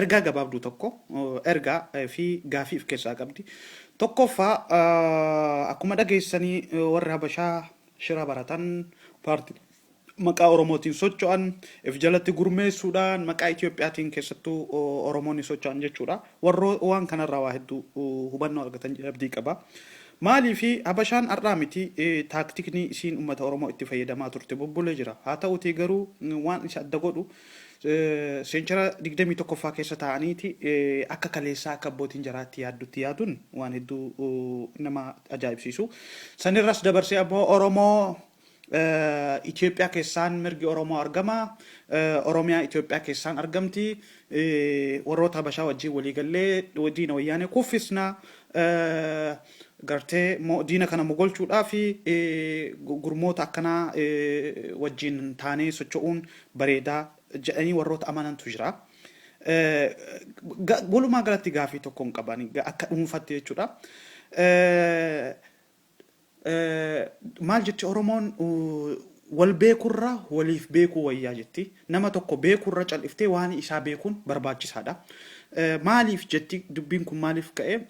Ergaa gabaabduu tokko, ergaa fi gaafii of keessaa qabdi. Tokkoffaa akkuma dhageessanii warri Habashaa shira baratan paartii maqaa Oromootiin socho'an if jalatti gurmeessuudhaan maqaa Itoophiyaatiin keessattuu Oromoonni socho'an jechuudha. Warroo waan kanarraa waa hedduu hubannoo argatan jedhee abdii qaba. Maaliif Habashaan har'aa miti taaktikni isiin uummata Oromoo itti fayyadamaa turte bubbulee jira. Haa ta'uutii garuu waan isa adda godhu Seenchara 21ffaa keessa taa'aniiti akka kaleessaa akka abbootiin jaraa itti yaaddutti yaaduun waan hedduu nama ajaa'ibsiisu. Sanirras dabarsee ammoo Oromoo Itoophiyaa keessaan mirgi Oromoo argama. Oromiyaa Itoophiyaa keessaan argamti. Warroota Habashaa wajjin walii gallee diina wayyaanee kuffisna. gartee mo, diina kana mogolchuudhaaf gurmoota akkanaa wajjiin taanee socho'uun bareedaa jedhanii warroota amanantu jira. Ga, walumaa galatti gaafii tokkon qaba ani ga- akka dhuunfatti jechuudha. Maal jetti Oromoon uh, wal beekurra waliif beekuu wayyaa jetti. Nama tokko beekuu irra cal'iftee waanii isaa beekuun barbaachisaa dha. Maaliif jetti dubbiin kun maaliif ka'e?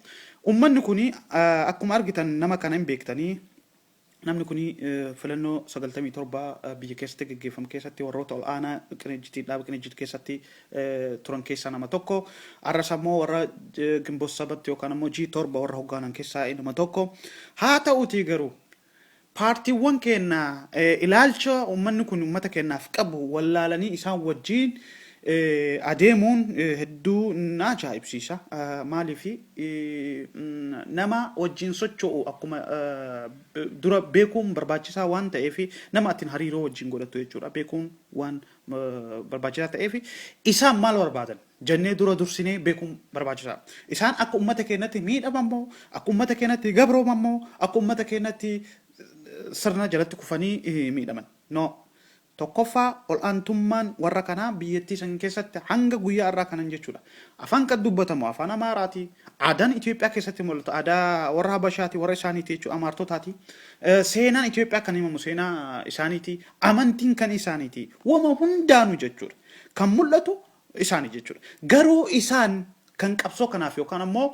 Ummanni kun akkuma argitan nama kana hin beektanii. Namni kun filannoo 97 biyya keessatti geggeeffamu keessatti warroota ol aanaa qinijjitii dhaaba qinijjit keessatti turan keessaa nama tokko. Arras ammoo warra Ginbot Sabatti yookaan ammoo G7 warra hoggaanan keessaa inuma tokko. Haa ta'uutii garuu Paartiiwwan keenna ilaalcha ummanni kun ummata keennaaf qabu wallaalanii isaan wajjiin adeemuun hedduu na ajaa'ibsiisa. Maaliif nama wajjiin socho'u akkuma dura beekuun barbaachisaa waan ta'eef, nama atin hariiroo wajjiin godhattu jechuudha, beekuun waan barbaachisaa ta'eef, isaan maal barbaadan? jennee dura dursinee beekuun barbaachisaadha. Isaan akka ummata keennatti miidhaman moo, akka ummata keennatti gabrooman moo, akka ummata keennatti sirna jalatti kufanii miidhaman? No. Tokkoffaa ol'aantummaan warra kanaa biyyattii san keessatti hanga guyyaa har'aa kanan jechuudha. Afaan kan dubbatamu afaan Amaaraati. Aadaan Itoophiyaa keessatti mul'atu aadaa warra Habashaati, warra isaaniiti jechuudha, Amaartotaati. Seenaan Itoophiyaa kan himamu seenaa isaaniiti. Amantiin kan isaaniiti. Wama hundaanu jechuudha. Kan mul'atu isaani jechuudha. Garuu isaan kan qabsoo kanaaf yookaan ammoo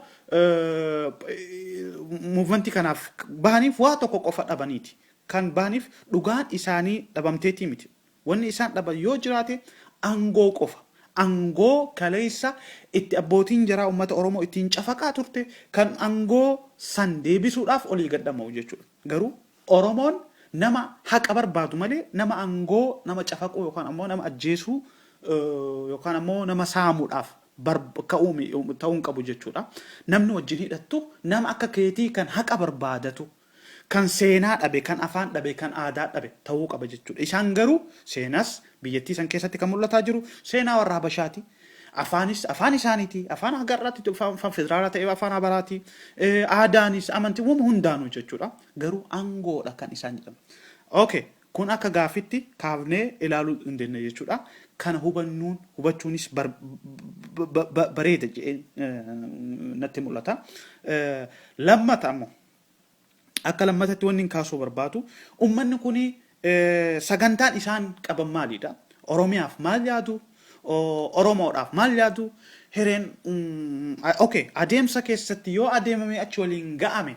muuvimentii kanaaf bahaniif waa tokko qofa dhabaniiti. Kan bahaniif dhugaan isaanii dhabamteetii miti. Wanni isaan dhaban yoo jiraate angoo qofa. Angoo kaleessa itti abbootiin jaraa uummata Oromoo ittiin cafaqaa turte kan angoo san deebisuudhaaf olii gad dhama'u jechuudha. Garuu Oromoon nama haqa barbaadu malee nama angoo nama cafaquu yookaan ammoo nama ajjeesuu yookaan ammoo nama saamuudhaaf ka'uu ta'uu hin qabu jechuudha. Namni wajjin hidhattu nama akka keetii kan haqa barbaadatu kan seenaa dhabe kan afaan dhabe kan aadaa dhabe ta'uu qaba jechuudha. Isaan garuu seenas biyyattii san keessatti kan mul'ataa jiru seenaa warra Habashaati. Afaanis afaan isaaniiti. Afaan hagarraatti afaan federaalaa ta'e afaan habaraati. Aadaanis amantiiwwan hundaanuu jechuudha. Garuu angoodha kan isaan jedhan. Ok kun akka gaaffitti kaafnee ilaaluu dandeenya jechuudha. Kana hubannuun hubachuunis bareeda jedhee natti mul'ata. Lammata ammoo akka lammatatti wanni hin kaasuu barbaadu ummanni kun sagantaan isaan qaban maalidha? Oromiyaaf maal yaadu? Oromoodhaaf maal yaadu? Hireen ok adeemsa keessatti yoo adeemamee achi waliin ga'ame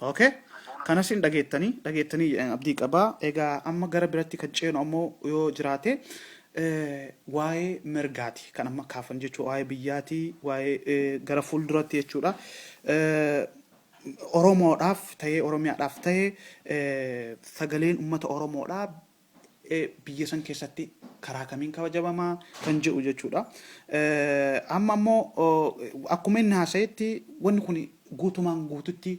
Ok kanas hin dhageettanii dhageettanii jedhan abdii qabaa egaa amma gara biratti kan ceenu ammoo yoo jiraate eh, waa'ee mirgaati kan amma kaafan jechuudha waa'ee biyyaati waa'ee eh, gara fuulduratti jechuudha Eh, Oromoodhaaf ta'ee Oromiyaadhaaf ta'ee eh, sagaleen uummata Oromoodhaa biyya san keessatti karaa kamiin kabajamama kan jedhu jechuudha. Amma immoo akkuma inni haasa'etti wanni kun guutumaan guututti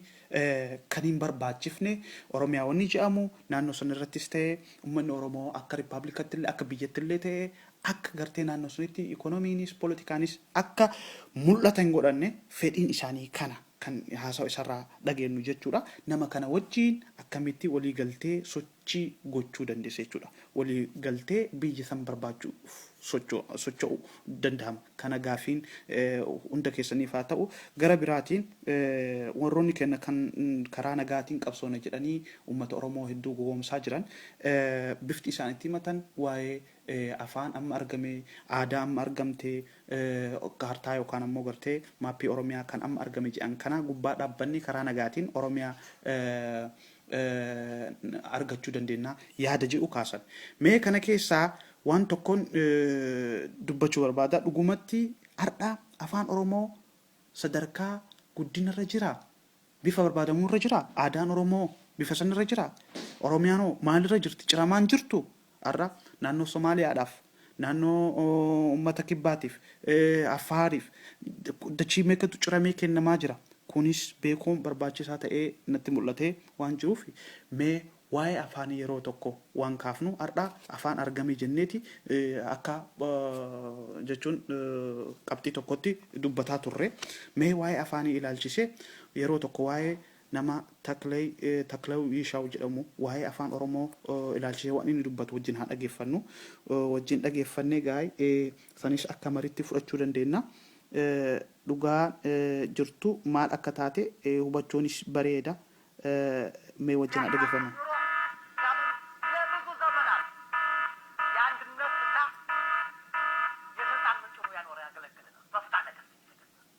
kan hin barbaachifne Oromiyaa wanni jedhamu naannoo san irrattis ta'e uummanni Oromoo akka rippaablikaatti illee akka biyyatti illee ta'e akka gartee naannoo sanitti ikoonomiinis politikaanis akka mul'ata hin godhanne fedhiin isaanii kana kan haasawa isarraa dhageenyu jechuudha. Nama kana wajjiin akkamitti walii galtee sochii gochuu dandeessa jechuudha. Walii galtee biyya san barbaachuuf socho'u dandahama. Kana gaafiin hunda keessaniif haa ta'u. Gara biraatiin warroonni keenna kan karaa nagaatiin qabsoona jedhanii ummata Oromoo hedduu gowoomsaa jiran bifti isaan itti himatan waa'ee afaan amma argamee, aadaa amma argamtee, kaartaa yookaan ammoo gartee maappii Oromiyaa kan amma argame jedhan kanaa gubbaa dhaabbannee karaa nagaatiin Oromiyaa argachuu dandeenya yaada jedhu kaasan. Mee kana keessaa waan tokkoon dubbachuu barbaada. Dhugumatti har'a afaan Oromoo sadarkaa guddina irra jira? Bifa barbaadamuu irra jira? Aadaan Oromoo bifa san irra jira? Oromiyaan hoo maalirra jirti? Ciramaan jirtu? Har'a naannoo Somaaliyaadhaaf, naannoo uummata kibbaatiif, Affaariif dachii meeqatu ciramee kennamaa jira. Kunis beekuun barbaachisaa ta'ee natti mul'atee waan jiruuf mee waa'ee afaanii yeroo tokko waan kaafnu har'a afaan argamii jenneeti akka jechuun qabxii tokkotti dubbataa turre. Mee waa'ee afaanii ilaalchisee yeroo tokko waa'ee Nama Taklay Taklaw Yishaw jedhamu waa'ee Afaan Oromoo ilaalchisee waan inni dubbatu wajjin haa dhageeffannu. Wajjin dhageeffannee gaa saniis akka mariitti fudhachuu dandeenna. Dhugaan jirtu maal akka taate hubachuunis bareeda. Mee wajjin haa dhageeffannu.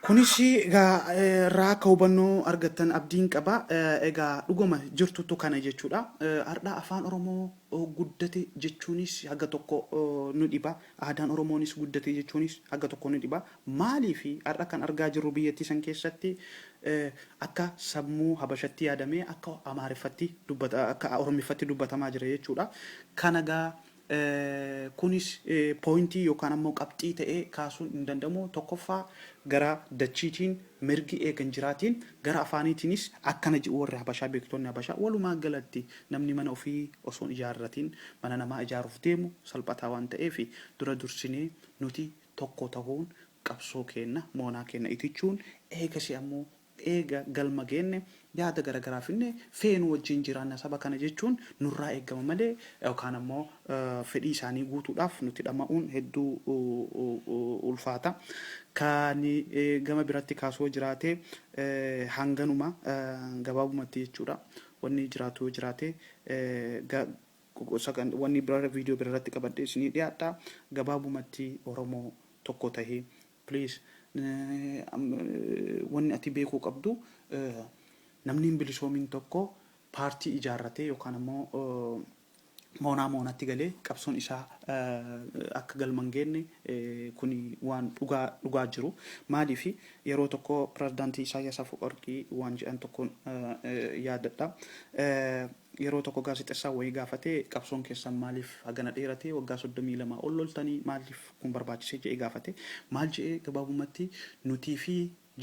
Kunis egaa irraa akka hubannoo argattan abdiin qaba. Egaa dhuguma jirtutu kana jechuudha. Har'a afaan Oromoo guddate jechuunis haga tokko nu dhiba. Aadaan Oromoonis guddate jechuunis haga tokko nu dhiba. Maaliifi har'a kan argaa jirru biyyattii san keessatti akka sammuu habashatti yaadamee akka amaariffatti dubbata akka orommiffatti dubbatamaa jira jechuudha. Kana egaa kunis pointii yookaan ammoo qabxii ta'ee kaasuun hin danda'amu. Tokkoffaa gara dachiitiin mirgi eega hin jiraatiin gara afaaniitiinis akkana jedhu warri habashaa beektonni habashaa walumaa galatti namni mana ofii osoo hin ijaarratiin mana namaa ijaaruuf deemu salphataa waan ta'eef dura dursinee nuti tokko tahuun qabsoo keenna moonaa keenna itichuun eegasii ammoo eega galma geenne yaada garagaraa finne feenu wajjiin jiraanna saba kana jechuun nurraa eegama malee yookaan ammoo fedhii isaanii guutuudhaaf nutti dhama'uun hedduu ulfaata. Ka ani gama biratti kaasu yoo jiraate hanganuma gabaabumatti jechuudha. Wanni jiraatu yoo jiraate ga. Wanni birarra video birarratti qabadhee isinii dhiyaadha. Gabaabumatti Oromoo tokko tahi please. Wanni ati beekuu qabdu namni hin bilisoomin tokko paartii ijaarratee yookaan ammoo moonaa moonatti galee qabsoon isaa akka galma hin geenne kuni waan dhugaa dhugaa jiru. Maaliif yeroo tokko Pirezidaantii Isaayyaas Afawarqii waan jedhan tokkon yaadadha. Yeroo tokko gaazexessaan wayii gaafate qabsoon keessan maaliif hagana dheerate waggaa 32 ol loltanii maaliif kun barbaachise je'ee gaafate. Maal je'e gabaabumatti nutii fi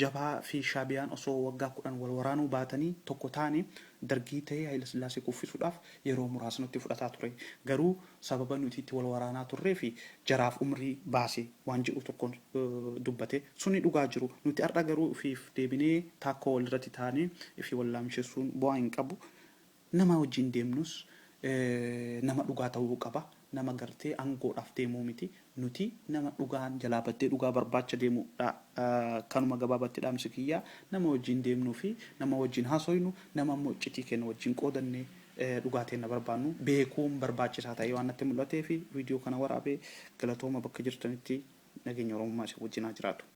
jabhaa fi shaabiyaan osoo waggaa 10 wal waraanuu baatanii tokko taane dargii tahee hayilasillaasee kuffisuudhaaf yeroo muraasa nutti fudhataa ture. Garuu. Sababa nuti itti wal waraanaa turree fi jaraaf umrii baase waan jedhu tokkon dubbate. Suni dhugaa jiru. Nuti har'a garuu ufiif deebinee taakkoo wal irratti taanee ifi wal laamshessuun bu'aa hin qabu. Nama wajjin deemnus nama dhugaa ta'uu qaba. Nama gartee angoodhaaf deemuu miti. Nuti nama dhugaan jalaa baddee dhugaa barbaacha deemu dha. Kanuma gabaabatti dhaamsi kiyya. Nama wajjiin deemnuu fi nama wajjiin haasoynu, nama ammoo iccitii keenna wajjiin qoodannee dhugaa teenna barbaannu beekuun barbaachisaa ta'ee waan natti mul'ateefi viidiyoo kana waraabe. Galatooma bakka jirtanitti nageenyi Oromummaa isin wajjiin haa jiraatu.